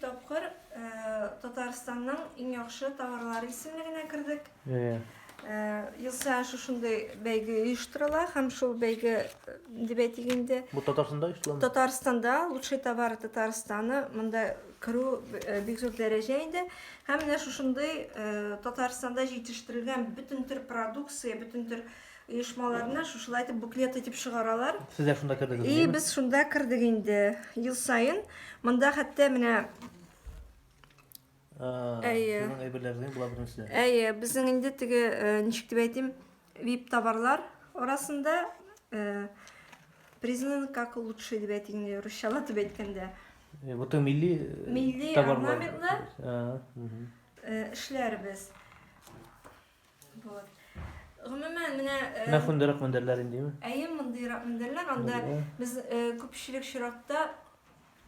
Тапкыр Татарстанның иң яхшы товарлары исемлегенә кердек. Ел саен шушындый бәйге оештырыла һәм шул бәйге дип әйтик инде. Бу Татарстанда оештырыла? Татарстанда лучший товар Татарстаны монда керү бик зур дәрәҗә инде. Һәм менә шушындый Татарстанда җитештерелгән бөтен төр продукция, бөтен төр оешмаларны шушылай итеп буклет итеп чыгаралар. Сез дә шунда кердегез? И, без шунда кердек инде. Ел саен монда хәтта менә Әйе. Сезнең әйберләрегез була беренче. Әйе, безнең инде теге ничек дип әйтим, VIP товарлар арасында признан как лучший дип әйтик инде русчалап дип әйткәндә. Бөтен милли милли орнаментлы эшләрбез. Вот. Гомумән, менә... Э, менә шундыйрак мендәрләр индеме? Әйе, мондыйрак мендәрләр. Анда без э, күпчелек чиракта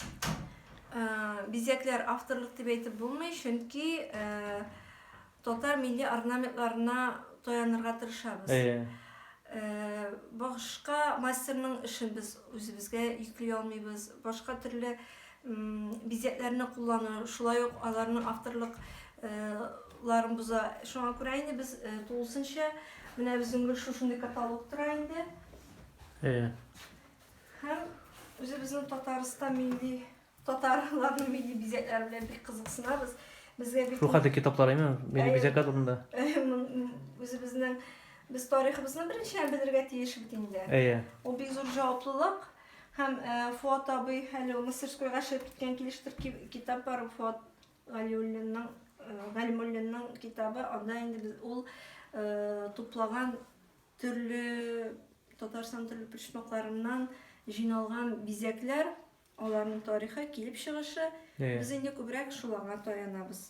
э, бизәкләр авторлык дип әйтеп булмый, чөнки татар милли орнаментларына таянырга тырышабыз. Әйе. Башка мастерның эшен без үзебезгә йөкли алмыйбыз. Башка төрле бизәкләрне куллану, шулай ук аларның авторлык ларын боза. Шуңа күрә инде без тулысынча менә безнең гел шушындый каталог тора инде. Әйе. Һәм үзебезнең Татарстан милли татарларның милли бизәкләре белән бик кызыксынабыз. Безгә бик Шул хәтле китаплар әйме? Милли бизәкләр турында. Үзебезнең без тарихыбызны беренче белергә тиеш бит инде. Әйе. Ул бик зур җаваплылык. Һәм Фуат абый әле ул мастерскойга чыгып киткән килештер китап бар Фуат Галиуллинның Галимуллинның китабы. Анда инде без ул туплаган төрле Татарстан төрле почмакларыннан җыйналган бизәкләр, аларның тарихы, килеп чыгышы. Без инде күбрәк шуларга таянабыз.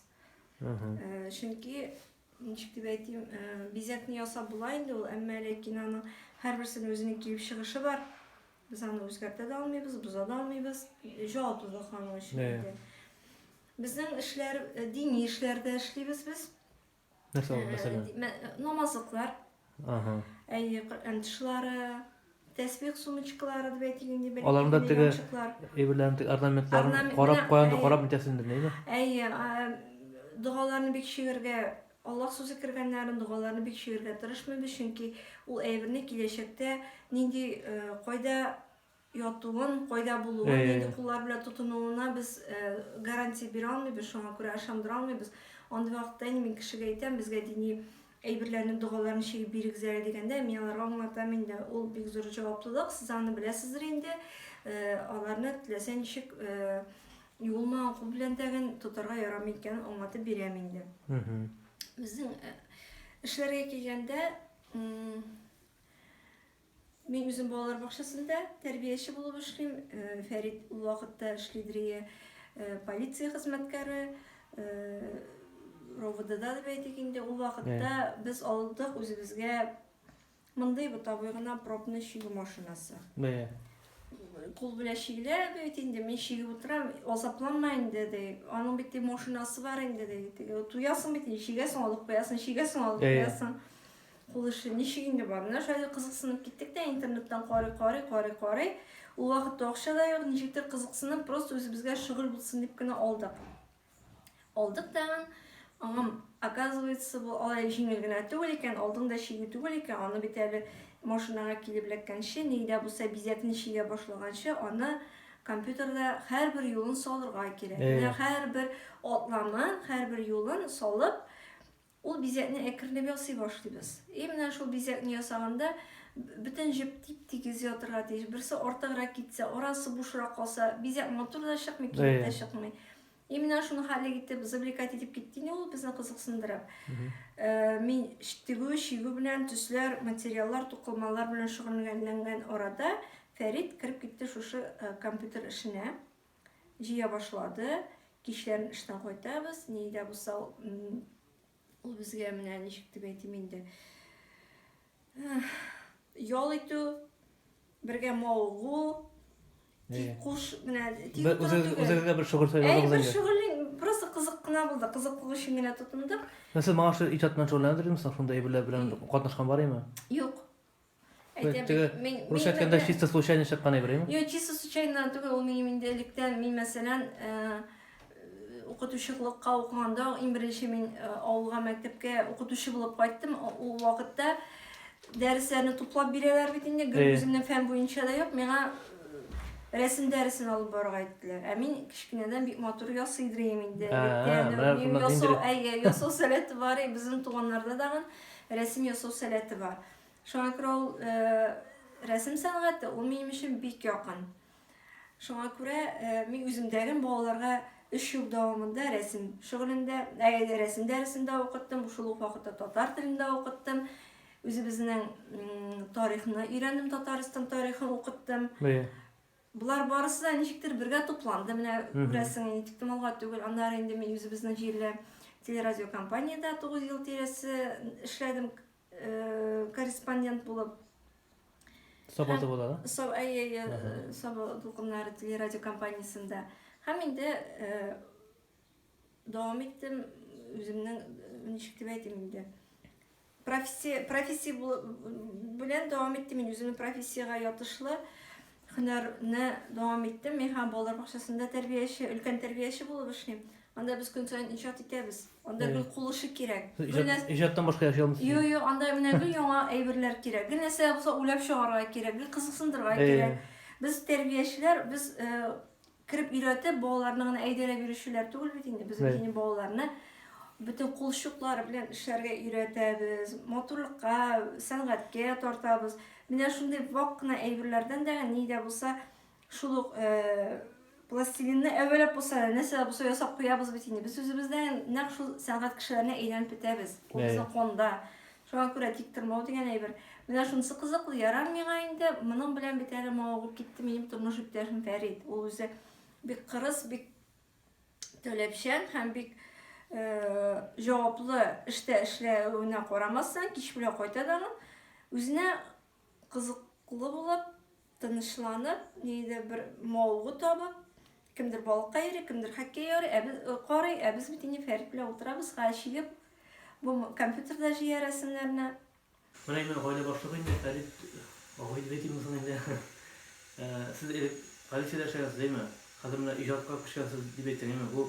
Чөнки Ничек дип әйтим, бизәкне ясап була инде ул, әмма ләкин аның һәрберсенең үзенең килеп чыгышы бар. Без аны үзгәртә дә алмыйбыз, боза да алмыйбыз. Җаваплылык аның өчен инде. Безнең эшләр дини эшләрдә эшлибез без. Нәрсә ул мәсәлән? Намазлыклар. Ага. Әйе, Коръән тышлары, тәсбих сумочкалары дип әйтик инде бәлки. Аларында теге әйберләрен, теге орнаментларын карап куянды, карап нитәсен инде, нәйме? Әйе, догаларны бик чигергә Аллах сүзе кергәннәрен догаларны бик чигергә тырышмыйбыз, чөнки ул әйберне киләчәктә нинди кайда ятуын, кайда булуын, нинди куллар белән тотынуына без гарантия бирә алмыйбыз, шуңа күрә ышандыра алмыйбыз. Андый вакытта инде мин кешегә әйтәм, безгә дини әйберләрне, догаларны чигеп бирегез әле дигәндә, мин аларга аңлатам инде, ул бик зур җаваплылык, сез аны беләсездер инде, э, аларны теләсә ничек э, юылмаган кул белән тәген тотарга ярамый икәнен аңлатып бирәм инде. Безнең э, эшләргә килгәндә, Мин үзем балалар бакчасында тәрбияче булып эшлим. Фәрит ул вакытта эшлидер ие полиция хезмәткәре, РОВДда дип әйтик инде. Ул вакытта без алдык үзебезгә мондый бытабый гына пробный чигү машинасы. Бәя. Кул белән чигелә бит инде, мин чигеп утырам, азапланма инде ди. Аның бит машинасы бар инде ди. Туясың бит, чигәсең, алып куясың, чигәсең, алып куясың. Кул эше ничек инде бар? Менә шулай кызыксынып киттек тә интернеттан карый, карый, карый, карый. Ул вакытта акча да юк, ничектер кызыксынып, просто үзебезгә шөгыль булсын дип кенә алдык. Алдык тагын. Аңам, оказывается, бу алай җиңел генә түгел икән, алдың да чигү түгел икән, аны бит әле машинага килеп эләккәнче, ни дә булса бизәкне чигә башлаганчы, аны компьютерда һәрбер юлын салырга кирәк. Менә һәрбер атламын, һәрбер юлын салып, Ул бизәкне әкренләп ясый башлыйбыз. И менә шул бизәкне ясаганда бөтен җеп тип-тигез ятырга тиеш. Берсе артыграк китсә, арасы бушрак калса, бизәк матур да чыкмый, кирәк тә чыкмый. И менә шуны хәллек итеп, завлекать итеп китте инде ул безне кызыксындырып. Э, мин тегү, чигү белән төсләр, материаллар, тукылмалар белән шөгыльләнгән арада Фәрит кереп китте шушы э, компьютер эшенә. җыя башлады. Кичләрен эштән кайтабыз. Ни дә булса, ул безгә менә ничек дип әйтим инде. Ял итү, бергә мавыгу, тик куш менә тик Үзегезгә бер шөгыль сайладыгыз инде. Әй, бер шөгыль просто кызык кына булды. Кызыклык өчен генә тотындык. Сез моңа иҗат белән шөгыльләнәсезме? Шунда әйберләр белән катнашкан бар име? Юк. Әйтәбез, мин рус әйткәндә чисто случайно чыккан әйбер, әйме? Юк, чисто случайно түгел, ул минем инде электән, мин мәсәлән, укытучылыкка укыганда, иң беренче мин авылга мәктәпкә укытучы булып кайттым. Ул вакытта дәресләрне туплап бирәләр бит инде, гел үземнең фән буенча да юк, миңа рәсем дәресен алып барырга әйттеләр. Ә мин кечкенәдән бик матур ясый идем инде. Ясау, әйе, ясау сәләте бар, безнең туганнарда дагы. Рәсем ясау сәләте бар. Шуңа күрә ул рәсем сәнгате ул минем өчен бик якын. Шуңа күрә мин үземдәгем балаларга 3 ел дәвамында рәсем шөгылендә, рәсем дәресендә укыттым, шул ук вакытта татар телендә укыттым. Үзебезнең тарихны өйрәндем, Татарстан тарихын укыттым. Болар барысы да ничектер бергә тупланды, менә күрәсең, инде тиктомалга түгел. Аннары инде мин үзебезнең җирле телерадиокомпаниядә 9 ел тирәсе эшләдем э, корреспондент булып. Саба тулкыннары, да? Саба, әйе, әйе, Саба тулкыннары телерадиокомпаниясендә. Һәм инде э, Дәвам иттем, үземнең, ничек дип әйтим инде, профессия, профессия белән дәвам иттем, мин үземнең профессиягә ятышлы һөнәрне дәвам иттем. Мин һәм балалар бакчасында тәрбияче, өлкән тәрбияче булып эшлим. Анда без көн саен иҗат итәбез. Анда гел кул эше кирәк. Иҗаттан башка яши алмыйсыз? Юк, юк, анда менә гел яңа әйберләр кирәк. Гел нәрсә булса уйлап чыгарга кирәк, гел кызыксындырырга кирәк. Без тәрбиячеләр, без э, Кереп өйрәтеп, балаларны гына әйдәләп йөрүчеләр түгел бит инде. Без инде балаларны бөтен кулчуклары белән эшләргә өйрәтәбез, матурлыкка, сәнгатькә тартабыз. Менә шундый вак кына әйберләрдән дә ни дә булса шул ук э, пластилинны әвәләп булса да, нәрсә булса ясап куябыз бит инде. Без үзебездән нәкъ шул сәнгать кешеләренә әйләнеп бетәбез. Ул безнең конда. Шуңа күрә тик тормау дигән әйбер. Менә шунысы кызыклы, ярар миңа инде, моның белән бит әле мавыгып китте минем тормыш иптәшем Фәрит. Ул үзе бик кырыс, бик таләпчән һәм бик э, җаваплы эштә эшләвенә карамастан, кич белән кайта да үзенә кызыклы булып, Тынычланып, нидер бер мавыгу табып, кемдер балыкка йөри, кемдер хоккей ярый, ә без карый, ә без бит инде Фәрит белән утырабыз, га чигеп, бу компьютерда җыя рәсемнәрне. Менә инде гаилә башлыгы инде Фәрит абый дип әйтимме соң инде. Сез элек полициядә эшләгәнсез, әйме? Хәзер менә иҗатка күчкәнсез дип әйтсәң, әйме? Бу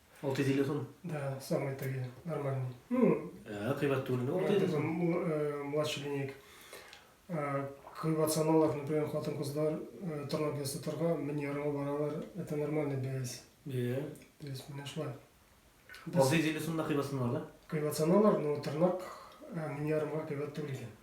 Ол телефон? Да, самый такие, нормальный. Ну, ә, кыйбат түгел инде ол телефон. Э, младший линейка. Э, кыйбат саналар, например, хатын кызлар э, тырнак ясатырга мин ярыма баралар. Это нормальный бәяс. Иә. То есть менә шулай. Алдый телефонда кыйбат саналар да? Кыйбат саналар, но тырнак мин ярымга кыйбат түгел икән.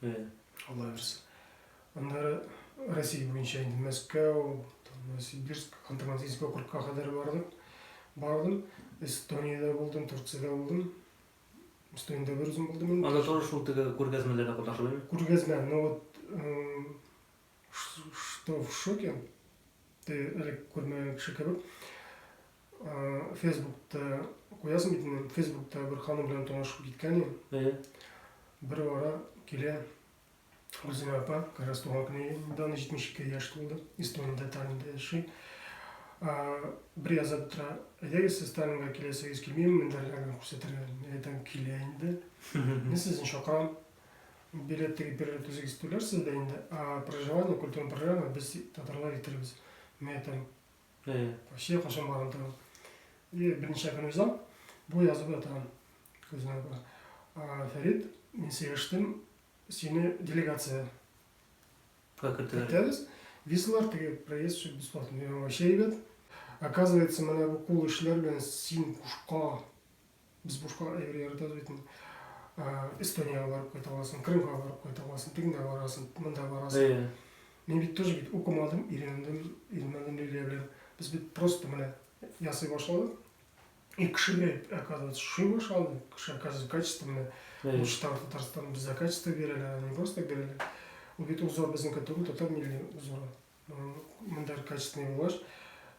Флайерс. Аннары Россия буенча инде Мәскәү, Новосибирск, Ханты-Мансийск округка кадәр бардым. Бардым. Эстониядә булдым, Турциядә булдым. Эстониядә бер үзем булдым. Анда тоже шул теге күргәзмәләрдә катнашып идең? Күргәзмә, ну вот Что в шоке? Ты әле күрмәгән кеше кебек. Фейсбукта куясың бит инде. Фейсбукта бер ханым белән танышып киткән идем. Бер вара килә Гөлзинә апа, как раз туган көне недавно 72 яшь тулды. Эстонияда Таллинда яши. Бер яза тора. Әйдәгез, сез Таллинга киләсегез килмиме? Мендәрләрне күрсәтергә. Әйтәм, килә инде. Мин сезне чакырам. Билет теге бер рәт үзегез түләрсез дә инде, а проживание, культура программа без татарлар итербез. Менә там Россия кашын барган торган. И берничә көн уза, бу язып ятырган. Күзенә бара. А, Фәрит, мин сөйләштем, сине делегация кертәбез. Визалар теге проезд все бесплатно. Мин вообще әйбәт. Оказывается, менә бу кул эшләр белән син кушка Без бушка әйбер яратабыз бит инде. Эстониягә барып кайта аласың, Крымга барып кайта аласың, тегендә барасың, монда барасың. Мин бит тоже бит укымадым, өйрәндем, өйрәндем Лилия белән. Без бит просто менә ясый башладык. И кешегә оказывается шуй башлады. Кеше оказывается качество менә. Уштан Татарстан без за качество бирәләр, не просто так бирәләр. Ул бит узор безнең түгел, татар милли узоры. Монда качественный булгач,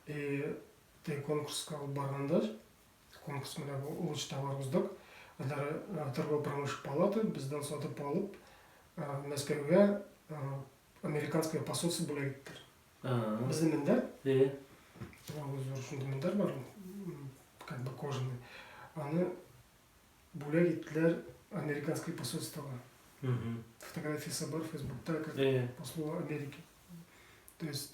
и конкурска барганда Конкурс менә бу лучший товар уздык. Алары торгово-промышленный палата бездән сатып алып, Мәскәүгә американское посольство бүләк иттеләр. Безнең мендәр. Әйе. Аңа зур шундый мендәр бар, как бы кожаный. Аны бүләк иттеләр американское посольствога. Фотографиясе бар Фейсбукта, как послу Америки. То есть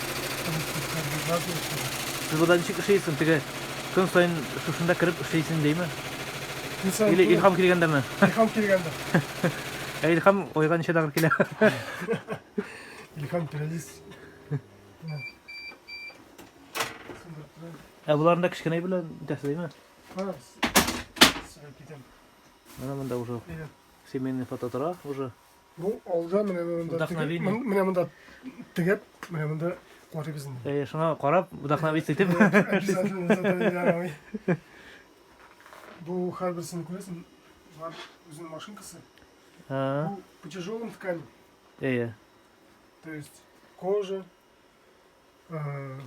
Сез буда ничек эшләйсең? Теге көн саен шушында кереп эшләйсең димме? Көн саен. Или Илхам килгәндәме? Илхам килгәндә. Ә Илхам ойга ничә тагыр килә? Илхам периодис. Ә буларны да кечкенә белән итәсе димме? Ха. Сәлам китәм. Менә монда уже семейный фото тора уже. Бу алда менә монда Вдохновение. тегеп, менә монда тегеп, менә монда карыйбыз инде. Э, шуңа карап, вдохновиться итеп. Обязательно задание ярамый. Бу һәрберсен күрәсең, бар үзенең машинкасы. А, Бу по тяжелым ткани, э, то есть кожа, а,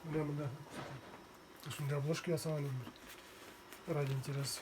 менә монда шундай обложка ясаган инде. Ради интереса.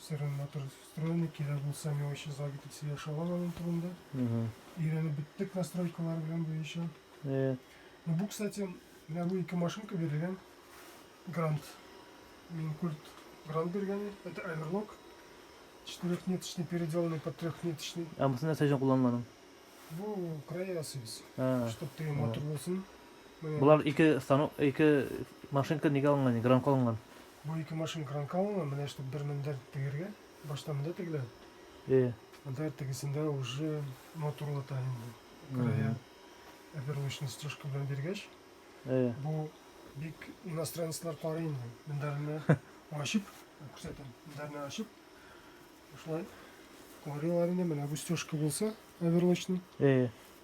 Все равно трус встроены, кирәк булса миңа өчен зал китеп сөйләшә алам аның турында. Өйрәнеп беттек настройкалар белән буенча. Э, Ну, бу, кстати, менә бу ике машинка бирелгән грант. Мин культ грант биргән, это Everlock. Четырехниточный, переделанный под трехниточный. Ә бусы нәрсә өчен кулланылган? Бу края ясыйбыз, Ә, чтобы теге матур булсын. Менә Болар ике станок, ике машинка нигә алынган, гранка алынган. Бу ике машин кранка алынган, менә штук бер мендәр тегергә, башта монда тегелә. Э. Монда тегесендә уже моторлата инде. Края опервочный стежка белән биргәч, э. бу бик иностранецлар карый инде. Мендәрне ачып, күрсәтәм, мендәрне ачып, шулай карыйлар инде, менә бу стежка булса, опервочный. Э.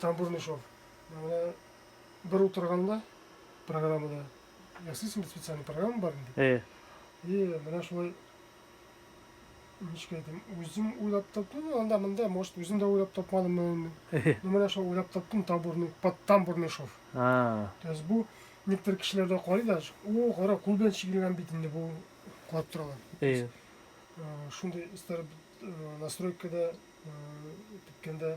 Там Бурмишов. Менә бер утырганда программада ясыйсың бит специальный программа бар инде. Э. И менә шулай ничек әйтим, үзем уйлап таптым, анда монда, может, үзем дә уйлап тапмадым инде. Ну менә шул уйлап таптым табурный, под там Бурмишов. А. То есть бу некоторые кешеләрдә карый да, о, кара, кул белән чигелгән бит инде бу кулап торалар. Э. Шундый истәр настройкада киткәндә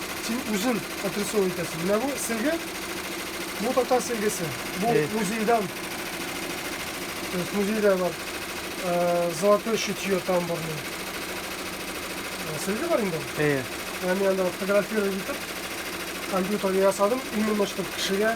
Син үзен отрисовывать итәсең. Менә бу сөлге, бу татар сөлгесе. Бу Эй. музейдан. То есть музейда бар. э, Золотое шитье тамбурное. Э, Сөлге бар инде. Әйе. Яны янда фотографировать итеп, компьютерга ясадым, именно чтобы кешегә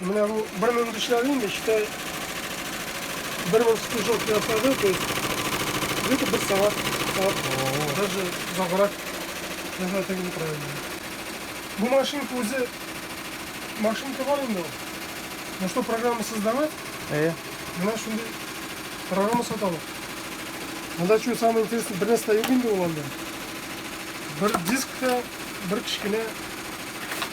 Менә бу бер мең дишләр инде, эчтә бер мең стыжок ясады, то есть где-то бер сәгать, сәгать, даже заграк ясады тегеп утыра инде. Бу машинка үзе машинка бар инде ул. Ну что программа создавать? Э. Менә шундый программа саталар. Анда что самое интересное, бер нәрсә юк инде ул анда. Бер дискта, бер кечкенә